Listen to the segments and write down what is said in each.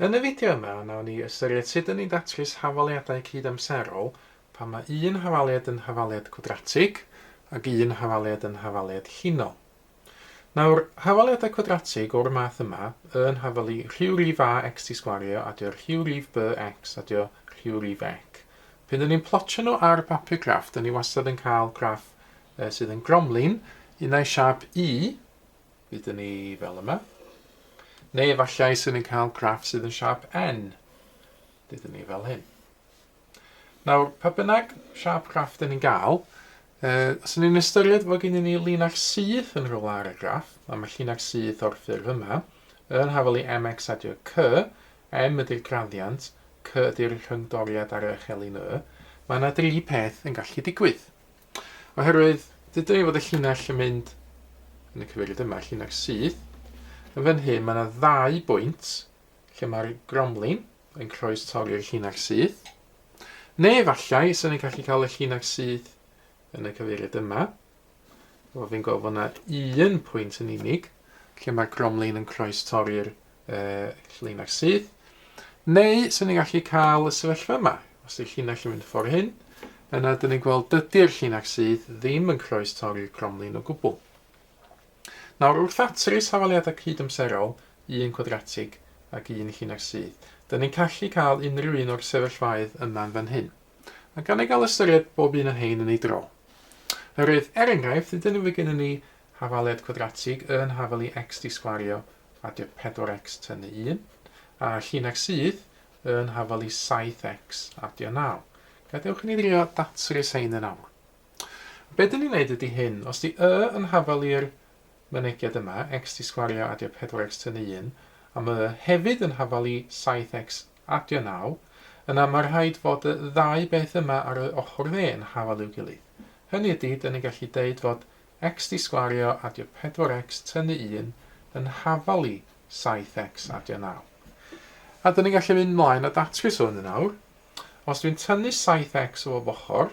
Yn y fideo yma, nawn ni ystyried sut dyn ni'n datrys hafaliadau cyd-amserol pan mae un hafaliad yn hafaliad cwadratig ac un hafaliad yn hafaliad llinol. Nawr, hafaliadau cwadratig o'r math yma yn hafalu rhyw rif a x ti sgwario a dio rhyw rif b x a dio rhyw rif ec. Pryd o'n i'n plotio nhw ar bapur graff, da ni wastad yn cael graff uh, sydd yn gromlin, un a'i siap u, bydd ni fel yma, neu efallai sydd yn cael graff sydd yn siap n, bydd ni fel hyn. Nawr, pa bynnag siâp graff dyn ni'n gael, uh, os ni'n ystyried fod gennym ni linach syth yn rhywle ar y graff, a mae llinach syth o'r ffurf yma, yn hafel i mx adio cy, m ydy'r graddiant, cy ydy'r rhyngdoriad ar eich elin y, mae yna dri peth yn gallu digwydd. Oherwydd, dydyn ni fod y llinach yn mynd yn y cyfeiriad yma, llinach syth, yn fan hyn mae yna ddau bwynt lle mae'r gromlin, yn croes torri'r llinach syth. Neu efallai, sy'n ni'n gallu cael y llinach syth yn y cyfeiriad yma. Wel, fi'n gweld fod yna un pwynt yn unig lle mae gromlin yn croes torri'r uh, llinach syth. Neu, sy'n ni'n gallu cael y sefyllfa yma. Os ydy'r llinach yn mynd ffordd hyn, yna dyn ni'n gweld dydy'r llinach syth ddim yn croes torri'r gromlin o gwbl. Nawr, wrth ddatrys safaliadau cydamserol, un cwadratig ac un lliniar sydd, dŷn ni'n callu cael unrhyw un o'r sefyllfaoedd yma yn fan hyn, a gan ei gael ystyried bob un o hein yn ei dro. Oherwydd, er enghraifft, hyd yn oed fe gennyn ni hafaliad cwadratig yn hafalu x disgwario a dio 4x tynnu 1, a lliniar sydd yn hafalu 7x a dio 9. Gadewch i ni ddrio datrys hein yn awr. Be dyn ni'n neud ydi hyn, os di Y yn hafal i'r mynegiad yma, X di sgwario adio 4X tynnu 1, a ma' Y hefyd yn hafal i 7X adio 9, yna ma' rhaid fod y ddau beth yma ar Y ochr dde yn hafal i'w gilydd. Hynny ydi, dyn ni'n gallu deud fod X di sgwario adio 4X tynnu 1 yn hafal i 7X adio 9. A dyn ni'n gallu mynd mlaen a datrys hwn yn awr. Os dwi'n tynnu 7X o bob ochr,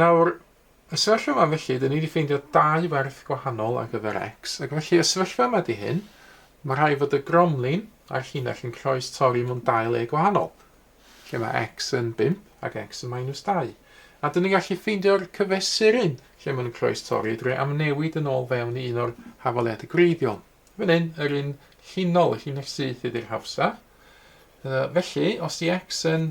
Nawr, y sefyllfa yma felly, dyn ni wedi ffeindio dau werth gwahanol ar gyfer x, ac felly y sefyllfa yma di hyn, mae rhaid fod y gromlin a'r llinell yn croes torri mewn dau le gwahanol, lle mae x yn 5 ac x yn minus 2. A dyn ni'n gallu ffeindio'r cyfesuryn lle mae'n croes torri drwy amnewid yn ôl fewn i un o'r hafaliadau gwreiddiol. Fan hyn, yr un llinol, y llinell syth ydy'r hawsaf. Felly, os di x yn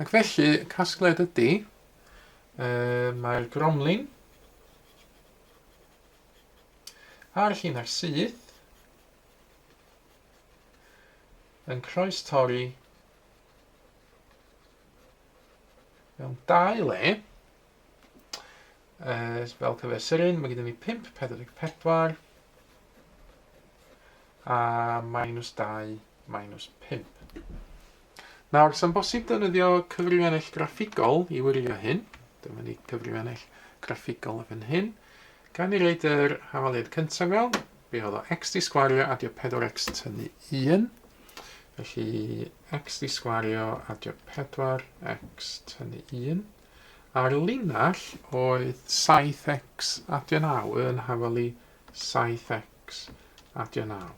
Ac felly, casgliad ydy, uh, mae'r gromlin a'r llinell syth yn croes torri mewn dau le Yy, spel cyfer Seren, mae gyda ni 5, 44. A minus 2, minus 5. Nawr, sy'n bosib defnyddio cyfrifiannell graffigol i wirio hyn. Dyma ni cyfrifiannell graffigol yn fan hyn. Gan i reid yr hafaliad cyntaf mewn, be oedd o? x di sgwario adio 4x tynnu 1. Felly, x di sgwario adio 4x tynnu 1. A'r llinell oedd 7x adio 9 yn hafal i 7x adio 9.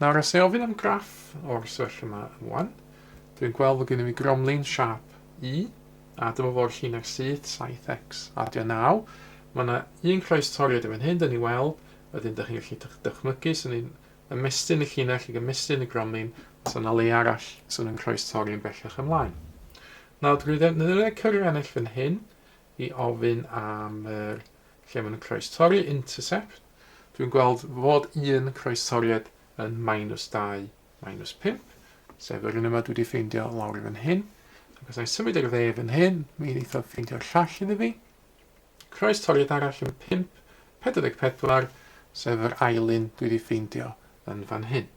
Nawr, os ei ofyn am graff o'r sefyllfa yma yn wan, dwi'n gweld fod gennym ni gromlin siap U, a dyma fo'r llinell syth, 7x adio 9. Mae yna un croes toriad yn fan hyn, dyn ni weld, wedyn dych chi'n gallu dychmygu, sy'n ni'n ymestyn y llinell i gymestyn y gromlin, os yna le arall sy'n yn croes torri yn bellach ymlaen. Nawr dwi ddefnyddio cyfrif ennill fan hyn i ofyn am yr lle maen nhw'n croestorri, intercept. Dwi'n gweld fod un croestoriad yn minus 2, minus 5, sef yr un yma dwi wedi ffeindio lawr i fan hyn. Ac os I symud i'r dde fan hyn, mi wneith o ffeindio'r llall iddi fi. Croestoriad arall yn 5, 44, sef yr ail un dwi wedi ffeindio yn fan hyn.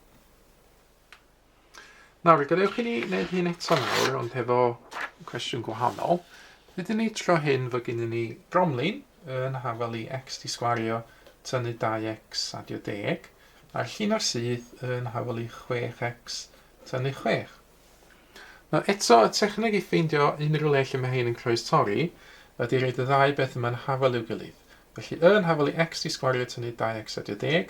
Nawr, gadewch i ni wneud hyn eto nawr, ond hefo cwestiwn gwahanol. Rydyn ni tro hyn fod gen ni bromlin yn hafel i x di sgwario tynnu 2x adio deg, a'r llun ar syth yn hafel i 6x tynnu 6. Nawr eto, y techneg i ffeindio unrhyw le lle mae hyn yn croes torri ydy roed y ddau beth yma'n hafel i'w gilydd. Felly yn hafel i x di sgwario tynnu 2x adio deg,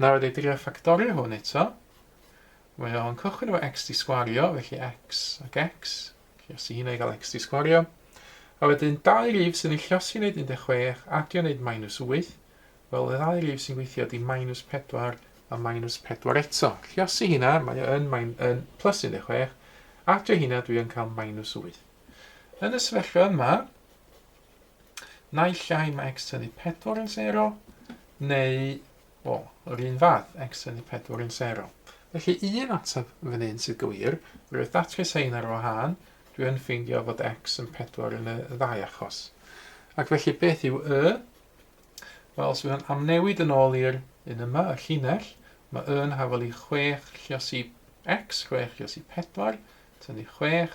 Nawr i drio ffactorio hwn eto. Mae o'n cychwyn efo x di sgwario, felly x ac x. Llosi hynna i gael x di sgwario. A wedyn dau rif sy'n ei llosi wneud 16, adio wneud minus 8. Wel, y ddau rif sy'n gweithio di minus 4 a minus 4 eto. Llosi hynna, mae yn, mae'n yn plus 16. Adio hynna, dwi yn cael minus 8. Yn y sefyllfa yma, Naill ai mae x ydi 4 yn 0, neu, o, yr un fath, x ydi 4 yn 0. Felly un ateb fan hyn sydd gywir, roedd datrys ein ar wahân, dwi yn ffeindio fod x yn 4 yn y ddau achos. Ac felly beth yw y? Wel, os byddwn am newid yn ôl i'r un yma, y llinell, mae y yn hafel i 6 llios i x, 6 llios i 4, tynnu 6,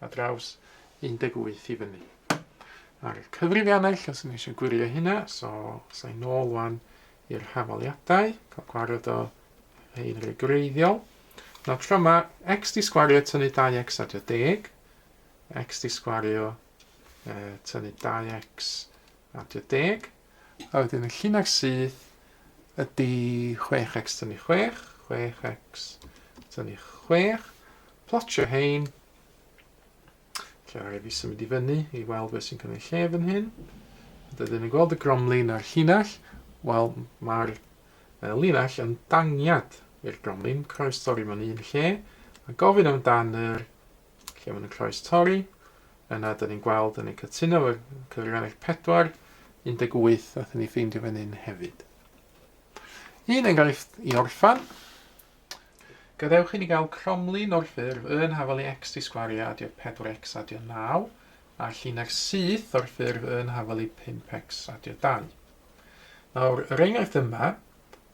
ar draws 18 i fyny. Ar y cyfrifiannau lle os yn eisiau gwirio hynna, so sa'i nôl wan i'r hafaliadau, cael gwared o rhaid rhaid gwreiddiol. Nawr tro yma, x di sgwario tynnu 2x adio deg, x di sgwario uh, tynnu 2x adio deg, A wedyn y llinell syth ydy 6x tynnu 6, 6x tynnu 6. Plotio hein. Lle rhaid fi symud i fyny i weld beth sy'n cynnig lle fan hyn. Dydyn ni'n gweld y gromlin a'r llinell. Wel, mae'r linell yn dangiad i'r gromlin, croes torri mewn un lle, a gofyn amdano'r Lle maen nhw'n croes-torri. Yna, da ni'n gweld, da ni'n cytuno efo'r cyfrifennaeth 4, 18, nath ni ffeindio fan hyn hefyd. Un enghraifft i orffan. Gadewch i ni gael cromlin o'r ffurf yn hafel i x di sgwario adio 4x adio 9, a llina'r syth o'r ffurf yn hafel i 5x adio 2. Nawr, yr enghraifft yma,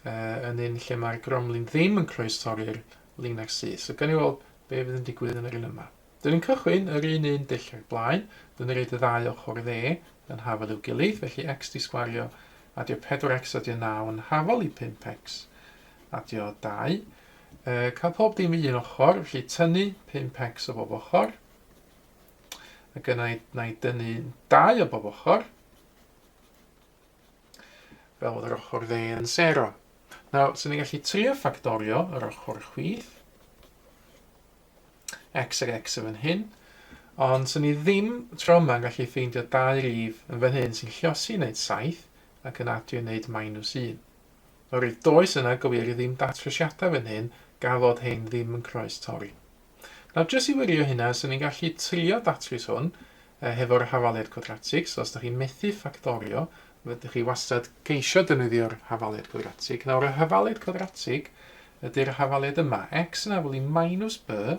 uh, yn un lle mae'r gromlin ddim yn croestori'r Lin ac Syth. So gawn ni weld be fydd yn digwydd yn yr un yma. Dyn ni'n cychwyn yr un un dull ag blaen. Dyn ni'n rhaid y ddau ochr dde yn hafel i'w gilydd, felly x di sgwario adio 4x adio 9 yn hafel i 5x adio 2. E, cael pob dim i un ochr, felly tynnu 5x o bob ochr. Ac yna na i dynnu 2 o bob ochr. fel bod yr ochr dde yn sero. Nawr, sy'n ni'n gallu trio ffactorio yr ochr chwith, x ag x yn fan hyn, ond sy'n ni ddim tro yma yn gallu ffeindio dau rif yn fan hyn sy'n lliosi wneud 7 ac yn adio wneud minus 1. Oherwydd does yna gywir ddim datrysiadau fan hyn, gafodd hyn ddim yn croes torri. Nawr jyst i wirio hynna, 'sen ni'n gallu trio datrys hwn hefo'r hafaliad cwadratig, so os dych chi'n methu ffactorio, fedrwch chi wastad geisio defnyddio'r hafaliad cwadratig. Nawr y hafaliad cwadratig ydy'r hafaliad yma, x yn afel i minus b,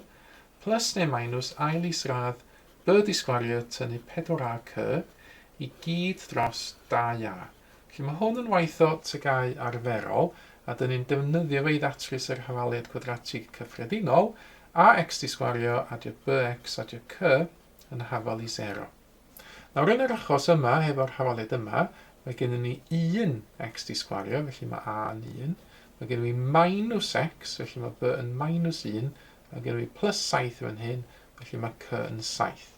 plus neu minus ail isradd b di sgwario tynnu 4ac i gyd dros 2a. Felly mae hwn yn waith o TGAU arferol, a dŷn ni'n defnyddio fe i ddatrys yr hafaliad cwadratig cyffredinol, ax di sgwario adio bx adio cy yn hafal i sero. Nawr yn yr achos yma, hefo'r hafaliad yma, mae gennym ni 1 x di sgwario, felly mae a yn 1. Mae gennym ni minus x, felly mae b yn minus 1. Mae gennym ni plus 7 fan hyn, felly mae cy yn 7.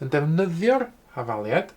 Yn defnyddio'r hafaliad,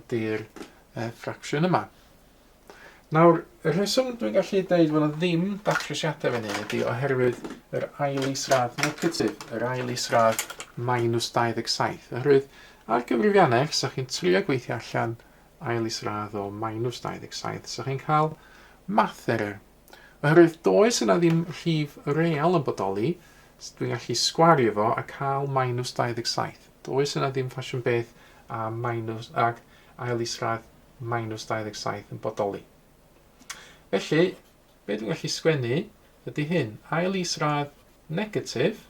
ydy'r uh, ffracsiwn yma. Nawr, y rheswm dwi'n gallu dweud fod yna ddim datrysiadau fan hyn ydy oherwydd yr ail isradd negatif, yr ail isradd minus 27. Oherwydd ar gyfrifiannau, os ydych chi'n trio gweithio allan ail isradd o minus 27, so chi'n cael math error. Oherwydd does yna ddim rhif real yn bodoli, so dwi'n gallu sgwario fo a cael minus 27. Does yna ddim ffasiwn beth a minus ag ail isradd minus 27 yn bodoli. Felly, be dwi'n gallu sgwennu ydy hyn, ail isradd negatif,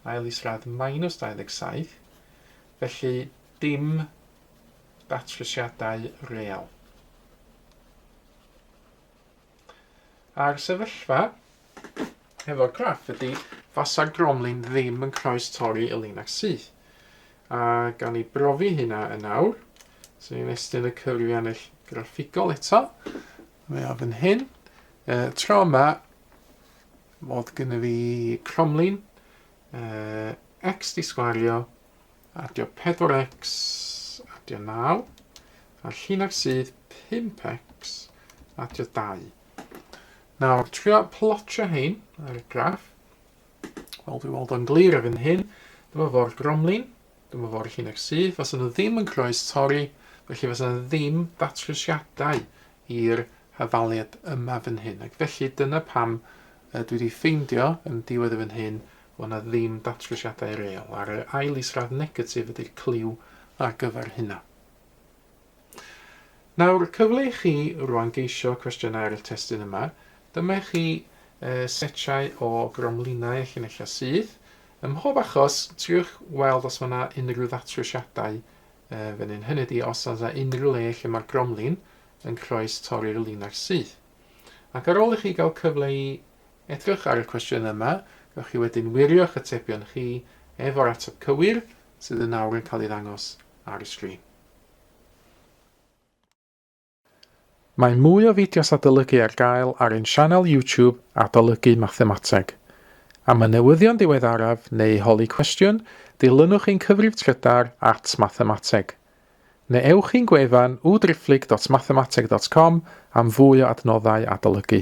ail isradd minus 27, felly dim datrysiadau real. A'r sefyllfa efo'r graff ydy, fasa Gromlin ddim yn croes torri y linell syth. A gan ni brofi hynna yn awr, so ni'n estyn y cyfrifiannell graffigol eto. Mae o fan hyn. E, tro yma, mod gyda fi Cromlin, e, x di sgwario, Adio 4x, adio 9, a'r llinell sydd 5x, adio 2. Nawr, trio plotio hein ar y graff. Wel, dwi'n weld o'n glir ar hyn hyn. Dyma fo'r gromlin, dyma fo'r llinell sydd. Fas yna ddim yn croes torri, felly fas yna ddim datrysiadau i'r hafaliad yma fan hyn. Ac felly dyna pam dwi wedi ffeindio yn diwedd y fan hyn Fo' 'na ddim datrysiadau real, a'r ail isradd negatif ydy'r cliw ar gyfer hynna. Nawr, cyfle i chi rwan geisio cwestiynau ar y testun yma. Dyma i chi setiau o gromlinau a llinellau sydd. Ym mhob achos, triwch weld os mae 'na unrhyw ddatrysiadau fan hyn, hynny ydi os oes 'na unrhyw le lle mae'r gromlin yn croes torri'r linell syth. Ac ar ôl i chi gael cyfle i Edrych ar y cwestiynau yma, gallwch chi wedyn wirio'ch atebion chi efo'r ateb cywir sydd yn awr yn cael ei ddangos ar y sgrin. Mae mwy o fideos adolygu ar gael ar ein sianel YouTube Adolygu Mathemateg. Am y newyddion diweddaraf neu holi cwestiwn, dilynwch ein cyfrif trydar at Mathemateg. Neu ewch i'n gwefan www.driphlyg.mathemateg.com am fwy o adnoddau adolygu.